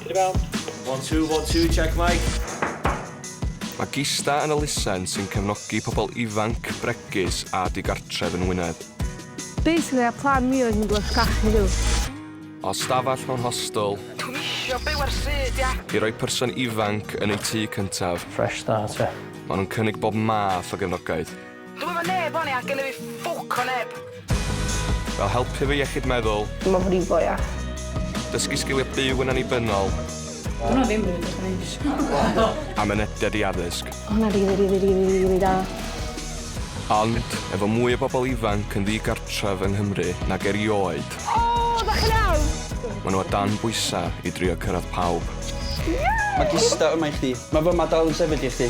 Rebound. One, two, one, two, check mic. Mae Gista yn elusen sy'n cefnogi pobl ifanc, bregus a digartref yn Wynedd. Basically, a plan mi oedd mynd wrth cachu rhyw. O stafell mewn hostel. Dwi'n isio byw ar syd, ia. I roi person ifanc yn ei tŷ cyntaf. Fresh start, ia. Maen nhw'n cynnig bob math o gefnogaeth. Dw efo neb oni a gennyf fi ffwc o neb. Fel helpu fy iechyd meddwl. Myfrifo iaith. Dysgu sgiliau byw yn annibynnol. Dyna ddim rili beth o'n i'n A mynediad i addysg. O hwnna rili rili rili rili da. Ond, efo mwy o bobl ifanc yn ddigartref yng Nghymru nag erioed... O! Dach chi'n iawn? ...ma' nhw o dan bwysa i drio cyrraedd pawb. Ie! Mae Gista yma i chdi. Mae fy Mad dal yn sefyll i chdi.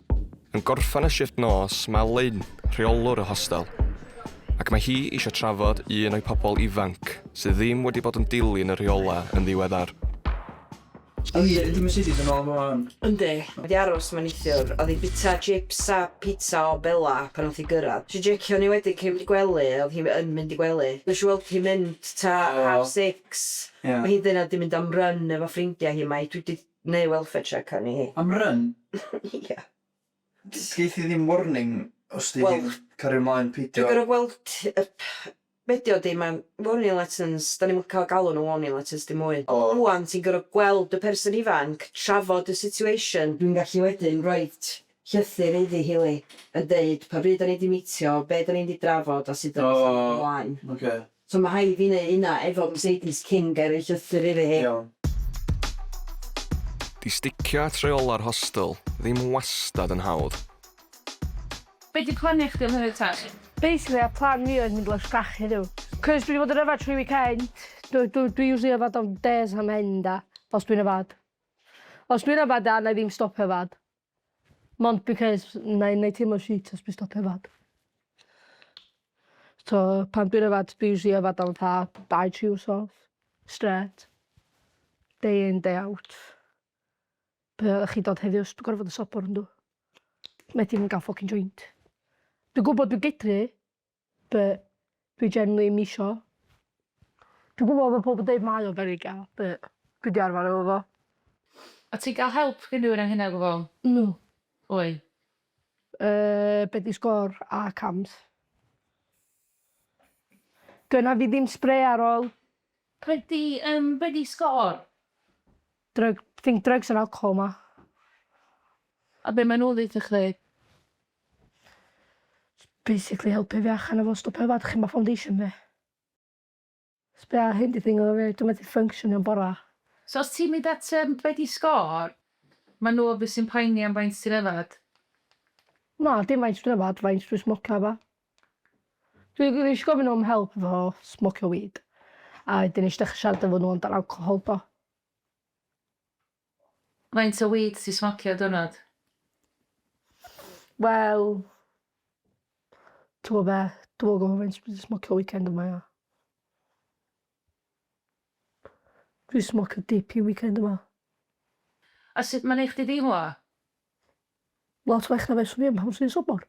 Yn gorffen y shifft nos, mae Lynn, rheolwr y hostel, ac mae hi eisiau trafod un o'i pobl ifanc sydd ddim wedi bod yn dilyn y rheolau yn ddiweddar. Yn wir, yndi Mercedes yn ôl yma wan? Yndi. Mae 'di aros yma neithiwr. O'dd 'i bita chips a pizza o Bella pan nath hi gyrradd. Nesh i jecio arni wedyn cyn mynd i gwely, o'dd hi yn mynd i gwely. Nesh i weld hi mynd ta half six. O'dd hi ddyna 'di mynd am run efo ffrindia hi mae dwi 'di Neu welfare check a ni. Am run? Ia. Gei thi ddim warning os ti di cario mlaen peidio. Dwi'n gorfod gweld tip. Be di o di ma warning letters da ni'm yn cael galw nhw warning letters dim mwy. Rwan ti'n gorfod gweld y person ifanc, trafod y situation. Dwi'n gallu wedyn roid llythyr iddi hi Lee yn deud pa bryd da ni di meetio, be da ni di drafod a sut da ni'n symud ymlaen. Oce. So ma rhaid fi neu hynna efo Mercedes cyn gael ei llythyr iddi hi. Iawn. Di sticio at reola'r hostel ddim wastad yn hawdd. Be di planiau chdi am heddiw ta? Basically y plan fi oedd mynd lawr Sgach heddiw. Cos dwi di bod yn yfad trwy weekend. Dw dw dwi usually yfad am days am end a os dwi'n yfad. Os dwi'n yfad da wna i ddim stopio yfad. Mond because na i neud teimlo shit os dwi'n stopio yfad. So pan dwi'n yfad dwi usually yfad am fatha dau tri wsos strêt. Day in day out. Be' oddach chi dod heddiw os dwi gorfod y sobor yndw? Methu mynd ga'l ffycin joint. Dwi gwbod dwi gedru but dwi generally 'im isio. Dwi gwbo ma' pobol deud mae o very gay but dwi 'di arfar efo fo. O't ti'n ga'l help gin rywun anghyna o gwbwl? No. Pwy? Yy be' 'di sgôr a cams? Gynna fi ddim sbre ar ôl. Be' 'di yym be' 'di sgôr? Drug- think drugs and alcohol ma. A be' ma' nw ddeutho chdi? Jyst basically helpu fi allan efo stwff yma 'dych chi'm ma' foundation fi. Jys be' a hyn 'di thing efo fi dwi methu ffynctiono'n bora. So os ti'n mynd at yym be' 'di sgôr? Ma' nw obviously yn poeni am faint ti'n yfad. Na dim faint dwi yfad faint dwi smocio a ba. Dwi g- nesh i gofyn am help efo smocio weed a 'dyn nesh i dechre siarad efo n'w amdan alcohol do. Faint o weed ti smocio diwrnod? Wel, t'mo' be'? Dwi'm yn gwbo faint dwi 'di smocio weekend yma ia. Dwi smocio dipyn weekend yma. A sut ma'n neu' chdi deimlo? Lot well na fyswn i yn pan swn i'n sobor.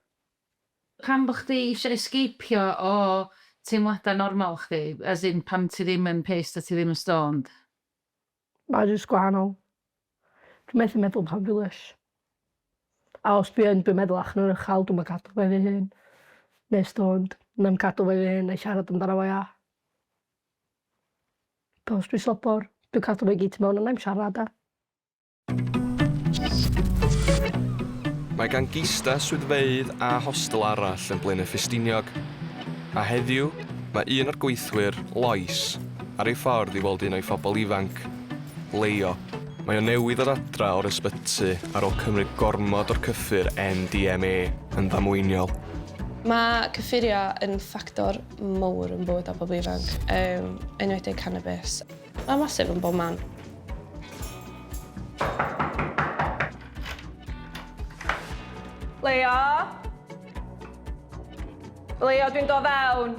Pam bo' chdi isio esgeipio o teimlada normal chdi? As in pan ti ddim yn pissed a ti ddim yn stoned? Mae jyst gwahanol. Dwi methu meddwl am fam Vilas. A os dwi yn dwi'n meddwl ach nawn ychal dwi'm yn cadw fe fy hun. Neu stoned. Na'm cadw fe fy hun na'i siarad amdano fo ia. Pe os dwi sobor dwi cadw fe gyd tu mewn a nai'm siarad ia? Mae gan Gista swyddfeydd a hostel arall yn Blaenau Ffestiniog, a heddiw mae un o'r gweithwyr, Lois, Ar ei ffordd i weld un o'i phobl ifanc, Leo. Mae o newydd ddod adra o'r ysbyty ar ôl cymryd gormod o'r cyffur MDMA yn ddamweiniol. Mae cyffuriau yn ffactor mawr yn bywydau pobl ifanc, yn enwedig canabis. Mae'n massive yn bob man. Leo? Leo, dwi'n dod fewn.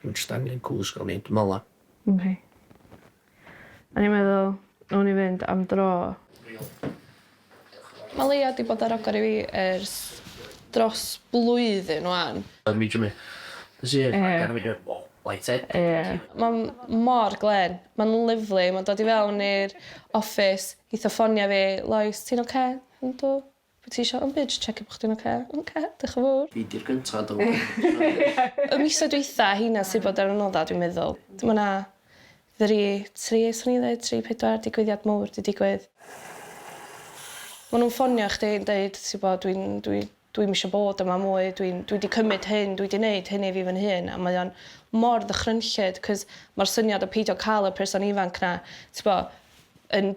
Dwi'm jyst angen cwsg o mynd mola. Dim hi. O'n i'n meddwl nawn ni fynd am dro. Ma Leia di bod ar agor i fi ers dros blwyddyn wan. Yn mi Jimmy. Nes i ddeud ragor i fi o light headed. Ma mor glên. Ma'n lyfli ma'n dod i fewn i'r office geith o ffonio fi Lois ti'n oce? Yndw. Be ti isio? Dim byd, checio bo' chdi'n oce. Oce, dioch yn fowr. Fi 'di'r gynta do. Y misoedd dwytha heina sy bod ar y nodda dwi'n meddwl. Ma' 'na three, tri swn i'n ddeud tri pedwar digwyddiad mowr 'di digwydd. Ma' nw'n ffonio chdi yn deud ti'bo dwi'n dwi dwi'm isio bod yma mwy dwi'n dwi 'di cymyd hyn dwi 'di neud hyn i fi fy'n hun a mae o'n mor ddychrynllyd 'c'os ma'r syniad o peidio ca'l y person ifanc 'na ti'bo yn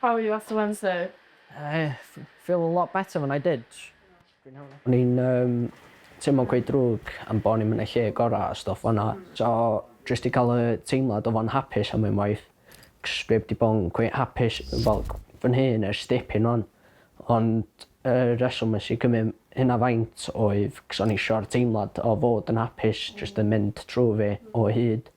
How are you after Wednesday? I feel a lot better than I did. O'n i'n teimlo'n cweit ddrwg am bo' ni'm yn y lle gora' a stwff fel 'na, so jyst 'di ca'l y teimlad o fod yn hapus am unwaith, 'c'os dwi 'eb 'di bo' yn cweit hapus fel fy nhŷ yn ers dipyn 'wan, ond Y rheswm nes i cymryd hynna faint oedd cos o'n i isio'r teimlad o fod yn hapus jyst yn mynd trw fi o hyd.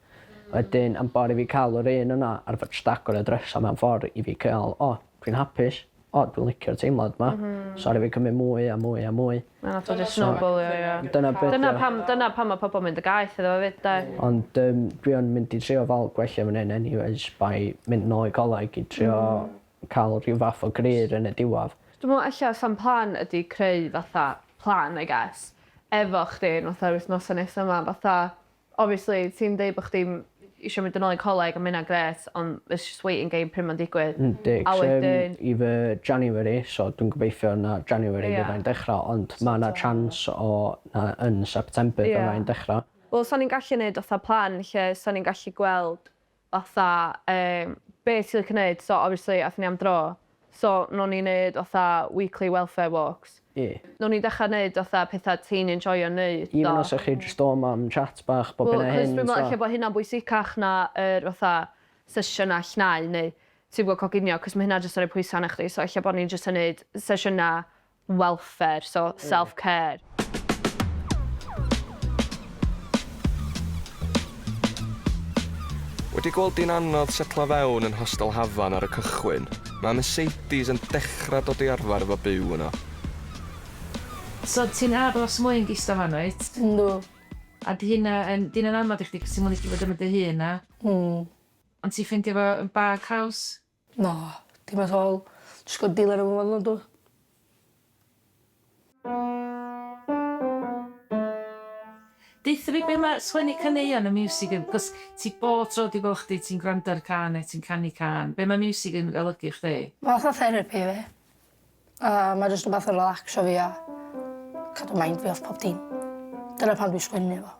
Wedyn am bawr i fi ca'l yr un yna ar fy jstagor y drysa mewn ffor i fi ca'l o dwi'n hapus o dwi'n licio'r teimlad ma so aru fi cymryd mwy a mwy a mwy. A nath o jyst snowbalio ia? Dyna be' 'di o. Dyna pam dyna pam ma' pobol mynd y gaeth iddo fo 'fyd 'de? Ond yym dwi yn mynd i trio fal gwella fy 'un anyways by mynd nôl i coleg i trio cael rhyw fath o gryr yn y diwadd. Dwi me'wl ella sam plan ydi creu fatha plan I guess efo chdi yn fatha yr wythnosa nesa ma fatha obviously ti'n deud bo' chdi'm isio mynd yn ôl i coleg a ma' hynna'n grêt ond it's just waiting game pryd ma'n digwydd Yndi a wedyn... i fy January so dwi'n gobeithio na January Ie. fyddai'n dechra ond ma' 'na chance o na yn September Ie. fyddai'n dechra. Wel sa ni'n gallu neud fatha plan lle sa ni'n gallu gweld fatha yym be' ti licio neud so obviously athon ni am dro so no'n ni neud fatha weekly welfare walks. Ie. No'n ni dechra neud fatha petha ti'n enjoio neud a... Even os o'ch chi jyst dod mam chat bach bob hyn a hyn so... Wel achos dwi me'wl ella bo' hynna'n bwysicach na yr fatha sesiyna llnau neu ti'm gwbo coginio achos ma' hynna jyst yn roi pwysa arna chdi so ella bo' ni'n jyst yn neud sesiyna welfare, so self care. Wedi gweld di'n anodd setlo fewn yn Hostel Hafan ar y cychwyn, mae Mercedes yn dechrau dod i arfer efo byw yno. So ti'n aros mwy yn gistal fanno wyt? Yndw. A 'di hynna yn, 'di hynna'n anodd i chdi cos ti'm yn licio bod efo dy hun a... Mm. Ond ti'n ffeindio fo yn bag haws? Na. Dim at all. Js gor'o' deal efo fo fel yna dw? Deutha fi be' ma' sgwennu caneuon a miwsig yn... 'C'os ti bob tro dwi gwel' chdi ti'n gwrando ar cân ne' ti'n canu cân. Be' ma' miwsig yn olygu i chdi? Ma' fatha therapi i fi. A ma' jyst wbath i relacsio fi a cadw mind fi off pob dim. Dyna pam dwi sgwennu fo.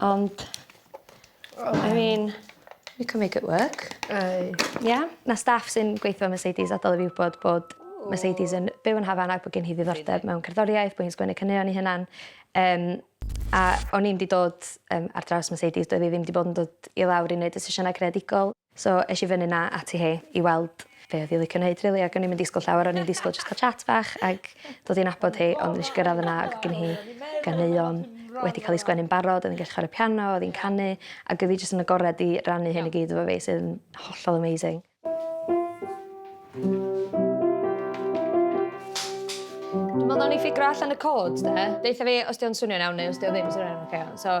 Ond I mean we can make it work. Ey. Ia? Ma' staff sy'n gweitho ym Mercedes adal i fi wbod bod Mercedes yn byw yn Hafan ac bo' gen hi ddiddordeb mewn cerddoriaeth bo' hi'n sgwennu caneuon 'i hunan yym a o'n i'm 'di dod yym ar draws Mercedes doedd 'i ddim 'di bod yn dod i lawr i neud y sesiynau creadigol. So es i fyny 'na ati hi i weld be' oedd hi licio neud rili ac o'n i'm yn disgwl llawer o'n i'n disgwl jyst ca'l chat bach ag dod i nabod hi ond nesh i gyrradd yna ag o' gin hi ganeuon wedi ca'l 'u sgwennu'n barod o'dd 'i'n gallu chware piano o'dd 'i'n canu ag o'dd 'i jyst yn agored i rannu hyn i gyd efo fi sydd yn hollol amazing. Dwi me'wl nawn ni ffigro allan y cod 'de? Deutha fi os 'di o'n swnio'n iawn neu os 'di o ddim so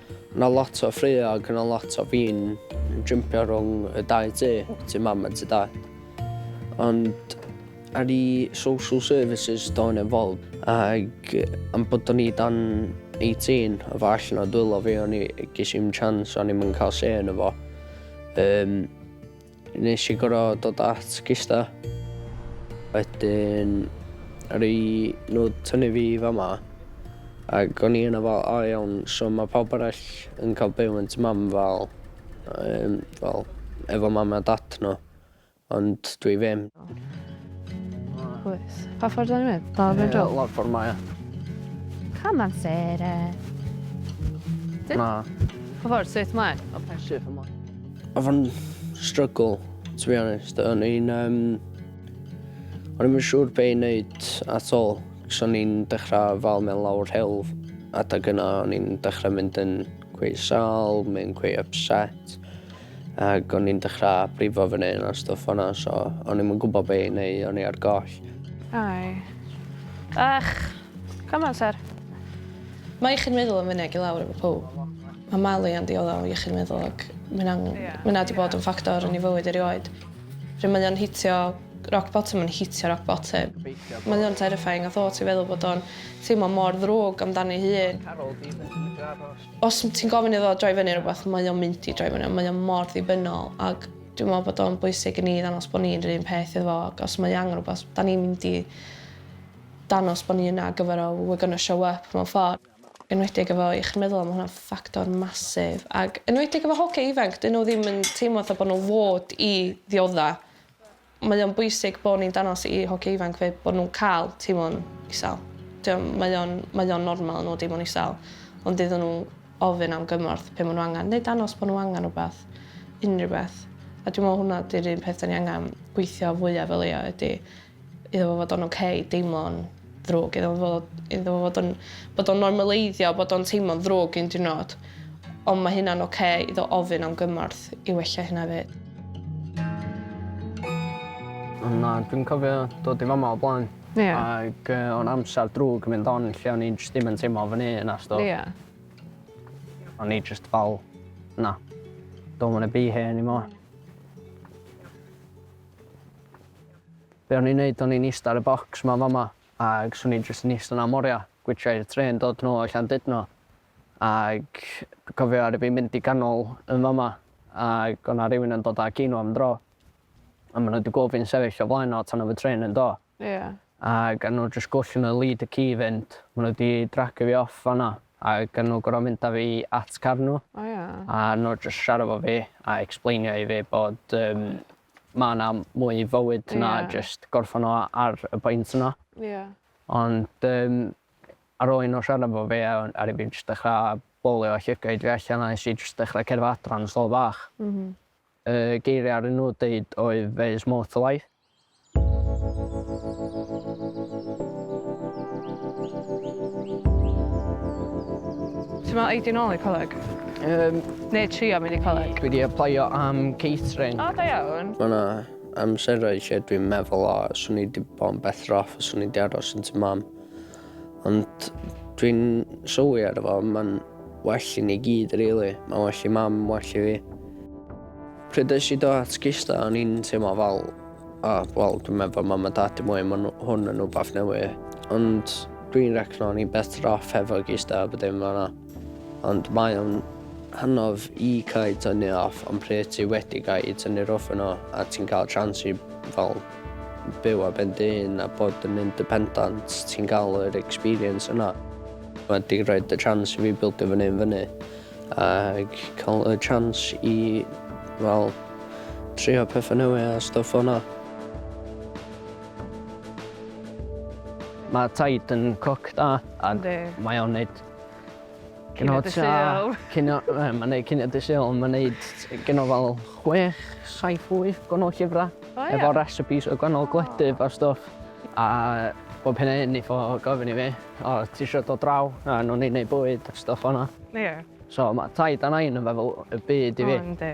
O' 'na lot o ffraeau ac o' 'na lot o fin yn jympio rhwng y dau tŷ, tŷ Mam a tŷ Dad. Ond ar ii social services do'n i'n involved ac am bod o'n i dan 18 o' fo allan o dwylo fi o'n i... ges i'm chance o'n i'm yn ca'l say yno fo. Yym. Nes i gor'o' dod at Gista. Wedyn aru nhw tynnu fi i fama ag o'n i yna fel o iawn so ma' pawb arall yn ca'l byw yn tŷ mam fel yym fel efo mam a dad nhw ond dwi ddim. Oes. Pa ffordd 'dan ni'n mynd? Dal i fynd rownd? Ie lawr ffor 'ma ia. Come on Sarah. Na. Pa ffordd? Strêt mlaen? Oce. Strêt ymlaen. Oedd o'n struggle, to be honest. O'n i'n... Um, o'n i'n siŵr be i wneud at all. Cos o'n i'n dechrau fal mewn lawr helf. Adag yna o'n i'n dechrau mynd yn cwy sal, mynd cwy upset. Ac o'n i'n dechrau brifo fy neu a stwff o'na, so o'n i'n gwybod be i wneud, o'n i ar goll. Ai. Ach, come on, sir. Mae chi'n meddwl am fyny ag i lawr efo pob. Mae malu yn dioddef o iechyd meddwl ac mae hynna'n... Ie. ...mae hynna 'di bod yn ffactor yn ei fywyd e rioed. Pryd mae o'n hitio rock bottom mae'n hitio rock bottom. Mae o'n terrifying y thought i feddwl bod o'n teimlo mor ddrwg amdani ei hun. Os ti'n gofyn iddo droi fyny ar rywbeth mae o'n mynd i droi fyny ond mae o mor ddibynnol ac dwi'n meddwl bod o'n bwysig i ni ddangos bod ni'n yr un peth iddo fo ac os mae angen rywbeth 'dan ni'n mynd i dangos bod ni yna ar gyfer o, we're gonna show up mewn ffordd. enwedig efo iechyd meddwl a ma' hwnna'n ffactor massive ag enwedig efo hogie ifanc 'dyn n'w ddim yn teimlo fel bo' n'w fod i ddiodda'. Mae o'n bwysig bo' ni'n danos i hogie ifanc 'fyd bo' nw'n ca'l teimlo'n isal. 'Di o'm... Mae o'n mae o'n normal i n'w deimlo'n isal ond iddon n'w ofyn am gymorth pe' ma' n'w angan neu danos bo' n'w angan rwbath. Unryw beth. A dwi me'wl hwnna 'di'r un peth 'dan ni angan gweithio fwyaf o leia' ydi iddo fo fod o'n ok deimlo'n ddrwg iddo fo iddo fo fod yn bod o'n normaleiddio bod o'n teimlo'n ddrwg un diwrnod ond ma' hynna'n ok iddo ofyn am gymorth i wella hynna 'fyd. Ond na dwi'n cofio dod i fama o blaen. Ie. Ag yy o'n amsar drwg mynd on lle o'n i'n jyst dim yn teimlo fyny na stwff. Ie. O'n i jyst fel na don't wanna be here anymore. Be o'n i'n neud o'n i'n ista ar y bocs ma fama ag swn i jyst yn ista na moria gwitchia i'r trên dod nôl o Llandudno ag dwi cofio aru fi mynd i ganol yn fama ag o' na rywun yn dod â ci nw am dro a ma nw di gwel fi'n sefyll o flaen o tan o'dd y trên yn do Ie. ag a nw jyst gwll yn y lead y ci i fynd ma nw di dragio fi off fanna ag a nw goro mynd a fi at car nw O ia. a nw jyst siara fo fi a explainio i fi bod yym ma' 'na mwy i fywyd na jyst gorffan o ar y pwynt yna. Ie. Ond yym ar ôl i n'w siarad efo fi a aru fi jyst dechra bowlio a llygaid fi allan a nes i jyst dechra cerddad adra yn slofa bach. M-hm. Y geiria' aru n'w deud oedd there is more to life. Ti me'wl eidia nôl i'r coleg? Yym. Neu trio mynd i coleg. Dwi 'di aplaio am catering. O, da iawn. Mae 'na amserau lle dwi'n meddwl 'o, 'swn i 'di bod yn better off os o'n i 'di aros yn tŷ Mam'. Ond dwi'n sylwi arno fo, mae'n well i ni gyd rili. Mae'n well i Mam, well i fi. Pryd es i do at Gista, o'n i'n teimlo fel, o, wel, dwi'n meddwl Mam a Dad i mwy, mae hwn yn wbath newydd. Ond dwi'n recno o'n i'n better off hefo Gista a bod dim fel 'na. Ond mae o'n hanodd i cau tynnu off ond pryd ti wedi cau i tynnu'r off yno a ti'n cael chance i fel byw ar ben dy hun a bod yn independant ti'n cael yr experience yna mae 'di roid y chance i fi bildio fy hun fyny ac cael y chance i fel trio pethau newydd a stwff fel 'na. Mae Taid yn coc da a mae o'n neud Cynod y Sul. Cynod, mae'n gwneud Cynod y Sul, mae'n gwneud gynod fel 6, 7, 8 gwahanol llyfrau. Oh, yeah. Efo recipes o gwahanol oh. gwledydd a stwff. A bob hyn a hyn i fo gofyn i fi, o, ti eisiau dod draw? A nhw'n ni'n gwneud bwyd a stwff o'na. Ie. Yeah. So mae tai dan ein yn fel y byd i fi. O, oh, ynddi.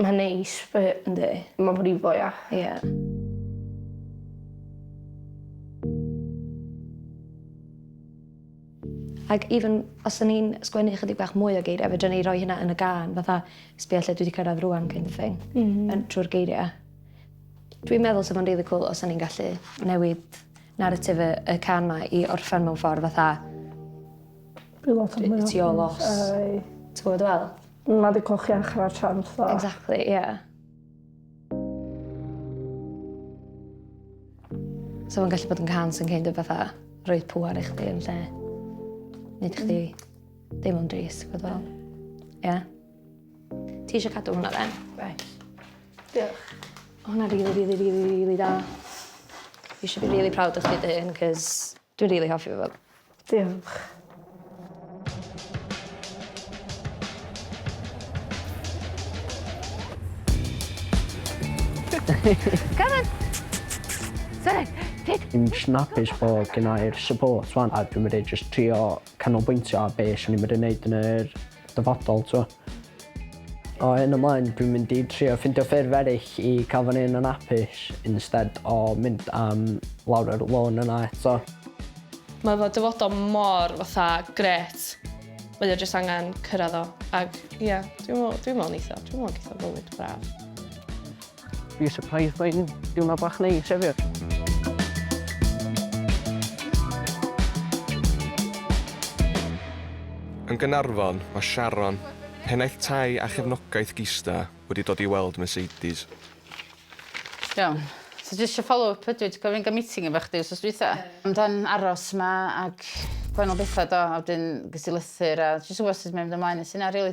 Mae'n neis fy-... Yndi. ...ma' wedi fwy a... Ie. Ac even os o'n i'n sgwennu ychydig bach mwy o geirie fedrwn i roi hynna yn y gân fatha sbia lle dwi 'di cyrradd rŵan kind of thing. M-hm. Yn trw'r geiria'. Dwi'n meddwl sa fo'n rili cŵl os o'n i'n gallu newid naratif y y cân 'ma i orffen mewn ffor fatha... Rhyw fath o... ...ti all loss. Yy. Ti gwbo dwi feddwl? Mae dy coch iach yna chance dda. Exactly, ie. Yeah. So mae'n gallu bod yn cans yn kind of fatha rhoi pŵar i chdi yn lle. Nid i chdi ddim o'n dris, gwyd fel. Ie. Yeah. Ti eisiau cadw hwnna then? Right. Diolch. Hwna rili, rili, rili, rili da. You should be really proud of chdi dy hyn, cos Dwi rili hoffi fo. Diolch. Come on! Sorry. Hyd! Fi'n jyst yn apus bo' gennai'r support 'wan a dwi medru jyst trio canolbwyntio ar be' swn i medru neud yn yr dyfodol t'wo'. O hyn ymlaen dwi'n mynd i trio ffindio ffyrdd eryll i ca'l fy nyn yn apus instead o mynd am lawr yr lôn yna eto. Mae fy dyfodol mor fatha grêt. Mae o jyst angen cyrradd o ag ia dwi me'wl dwi me'wl neith o dwi me'wl geith o fywyd braf. Be surprised mae'n diwrnod bach neis hefyd. Yn Gaernarfon, mae Sharon, pennaeth tai a chefnogaeth Gista, wedi dod i weld Mercedes. Iawn. So just eisiau follow up ydw i, dwi'n cofio ni'n cael meeting efo chdi wrth dwytha. Amdan aros ma ac gwahanol bethau do, a wedyn ges i lythyr a jyst wybod sut mae'n mynd ymlaen. Nes i na rili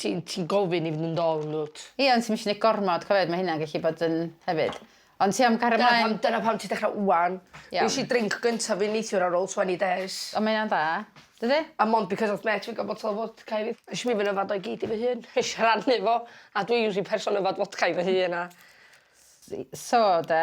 Ti'n ti'n gofyn i fynd yn dol yndwt? Ie ond ti'm isio neud gormod cofiwch ma' hynna'n gellu bod yn hefyd. Ond ti am cario Dyna mlaen. pam dyna pam ti dechra ŵan. Iawn. Nes i drinc gynta fi neithiwr ar ôl twenny days. O ma' ynna'n dda. Dydi? A mond because of mêt fi ga'l botel o fodca i fi. Nesh i myn' yfed o i gyd i fy hun. Nesh i rhannu fo a dwi usually person yfed fodca i fy hun a... S- yy so 'de